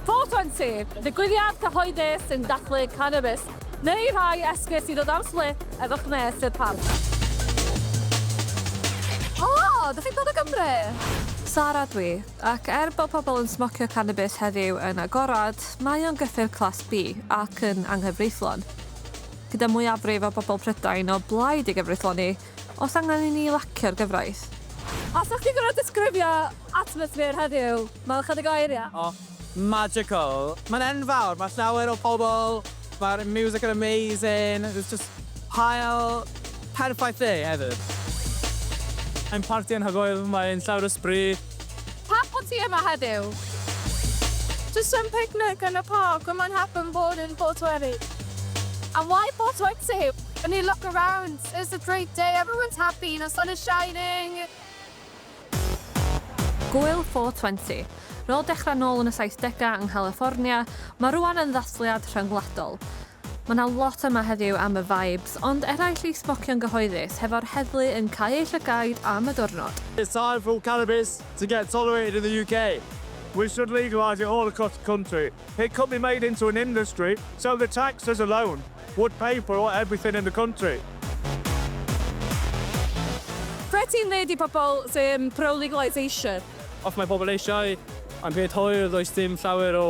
Ffoto'n syth, digwyddiad cyhoeddus sy'n dathlu canabis, neu rhai esgus i ddod am sblip efo chnes i'r parc. O! Dych chi'n dod o Gymru? Sara dw i, ac er bod pobl yn smocio canabis heddiw yn agored, mae o'n gyffur Class B ac yn anghyfreithlon. Gyda mwyafrif o bobl Prydain o blaid ei gyfreithloni, Oes angen i ni lacio'r gyfraith? Allwch chi gorfod disgrifio atmosffer heddiw mewn chydig o eiriau? O, magical. Mae'n enfawr, mae llawer o pobl, mae'r music yn amazing, there's just haul perffaith dde hefyd. Ein parti anhygoel, mae'n llawer o sbri. Pam bod ti yma heddiw? Just some picnic in the park, we might happen bored in Portweri. And why Portwenti? Can you look around? It's a great day, everyone's happy, you know, sun is shining! Gwyl 420. Rôl dechrau nôl yn y 70au yng Nghaliffornia, mae rwan yn ddathliad rhyngwladol. Mae 'na lot yma heddiw am y vibes, ond eraill i smocio'n gyhoeddus, hefo'r heddlu yn cau eu llygaid am y diwrnod. It's time for cannabis to get tolerated in the UK. We should legalise it all across the country. It could be made into an industry, so the taxes alone Would pay for all everything in the country. Be ti'n ddeud i pobl sy'n pro-legalisation? Os mae pobl eisiau am beth hwyr does dim llawer o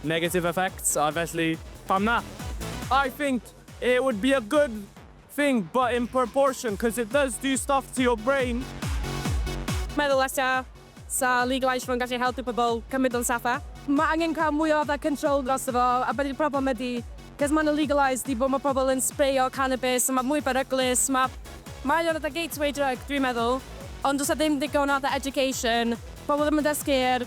negative effects a felly pam na? I think it would be a good thing but in proportion cos it does do stuff to your brain. Meddwl ella 'sa legalise fo'n gallu helpu pobl cymryd o'n saffach. Mae angen cael mwy o fatha control drosto fo a be 'di'r problem ydi cos maen nhw'n legalise di bod mae pobl yn sbreio cannabis a mae mwy beryglus ma mae o'n fatha gateway drug dwi'n meddwl ond does 'na ddim digon o fatha education pobl ddim yn dysgu ar